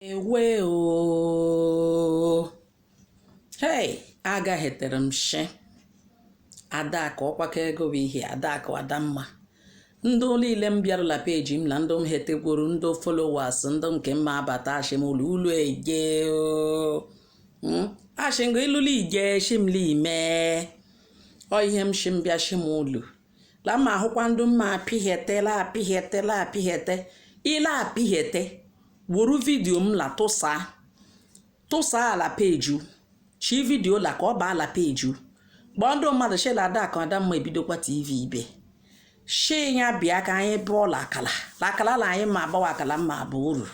ewe o hei agaghetere m shi adaka ọkwaka ego bụ ihe adaka adamma ndị niile m bịarụla peji m na ndị m hetegwuru ndị followers ndị nke mma abata ashim ụlọ ụlọ ije o ashim ga ịlụla ije shimla ime ọ ihe m shim bịa shim ụlọ la ma ahụkwa ndị mma apịghete ile apịghete weru vidio m la tụsaa ala peju shi vidio la ka ọ baa ala peju kpọọ ndị mmadụ shela adaka adamma ebidokwa tv ibe shi ya bịa ka anyị bụọ la akala la akala la anyị ma agbawa akala mma abụ uru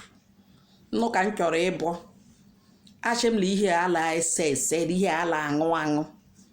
nnụ ka m chọrọ ịbụ ashị m la ihe ala ese ese ihe ala aṅụ aṅụ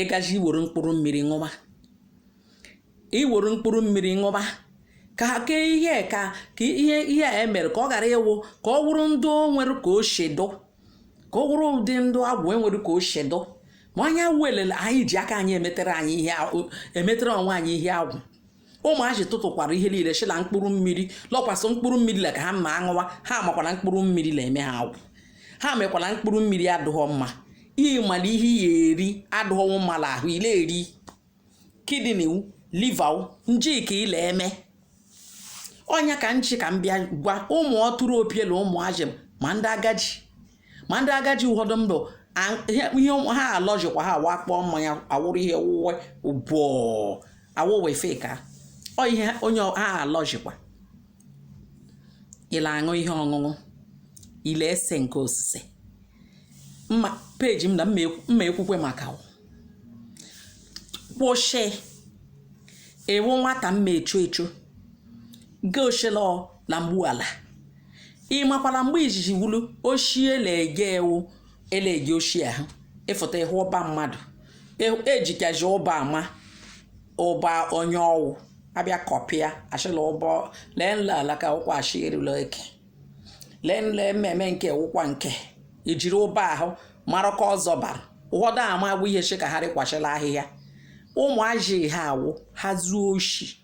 ịgaji iwere mkpụrụ mmiri ṅụba iwere mkpụrụ mmiri ṅụba ka ke ihe ka ihe emere ka ọ ghara ịwụ ka ọ wụrụ ndị o nwere ka o shi dụ ka ọ wụrụ ụdị ndụ agwụ enwere ka o shi dụ ma anya wụ elele anyị ji aka anyị emetere onwe anyị ihe agwụ ụmụazị tụtụkwara ihe niile shi la mkpụrụ mmiri lọkwasị mkpụrụ mmiri la ka ha mma aṅụwa ha makwa la mkpụrụ mmiri la eme ha agwụ ha makwa la mkpụrụ mmiri adụghọ mma ị ma la ihe ị ya eri adụghọ mma la ahụ ile eri kidney liver o njika ile eme ọnya ka nchi ka m bịa gwa ụmụ ọtụrụ opiela ụmụazị ma ndị agaji ma ndị agaji ụfọdụ ndụ ihe ha alọjikwa ha wakpọọ mmanya awụrụ ihe wụwe ụbọ awụwe feka ọ ihe onye ha alọjikwa ile aṅụ ihe ọṅụṅụ ile ese nke osise mma peji m la mma ekwukwe maka kwụshị ịwụ nwata mma echo echo goshilọ la mgbu ala ị makwa la mgbe izizi wulu oshi le-eji ewu ele-ege oshi ahụ ịfụta ịhụ ụba mmadụ ejikazi ụba ama ụba onye ọ wụ abịa kọpịa ashịla ụba lee nla alaka ụkwa achị erula eke lee nla ememe nke ụkwa nke ejiri ụba ahụ mara ka ọzọ bara ụfọdụ ama agwụ ihe shi ka ha rịkwachila ahịhịa ụmụazị ha awụ ha zuo oshi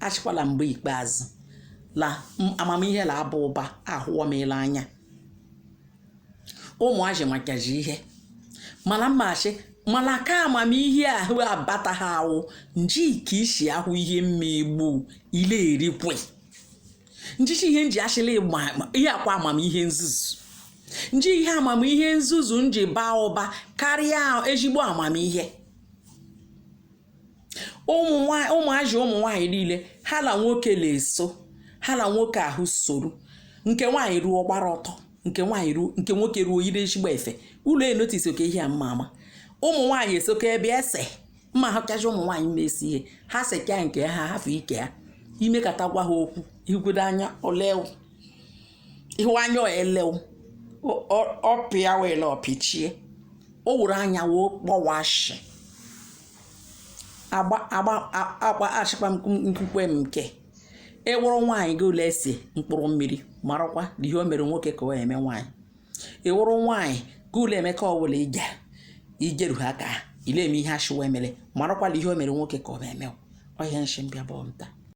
ashịkwa la mgbe ikpeazụ la amamihe la aba ụba ahụwa m la anya ụmụazị makazị ihe mala mmashi mala ka amamihe ahụ abata ha awụ nji ka ishi ahụ ihe mmegbu ile erikwe nji shi ihe nji ashịla ihe akwa amamihe nzuzu nji ihe amamihe nzuzu nji baa ụba karịa ezigbo amamihe ụmụazị ụmụ nwaanyị niile ha na nwoke na-eso ha na nwoke ahụ soro nke nwaanyị ruo gbara ọtọ nke nwoke ruo yiri ezigbo efe ụlọ enotice oke ihe a mma ama ụmụ nwaanyị esoka ebe ese mma ahụkacha ụmụ nwaanyị na-ese ihe ha seka nke ha hafụ ike ha i mekata gwa ha okwu igodo anya ole ihu anya elew ọpịa wele ọpịchie o wuru anya wee kpọwashi agba achịkwa nkwukwe m nke ị wụrụ nwaanyị gị la-ese mkpụrụ mmiri marakwa na ihe o mere nwoke ka o eme nwaanyị ị wụrụ nwaanyị gị la-eme akwụla i jeru ha ka ị la-eme ihe achịwa emere marakwa na ihe o mere nwoke ka o eme ọhịa nshi mbịa bụ nta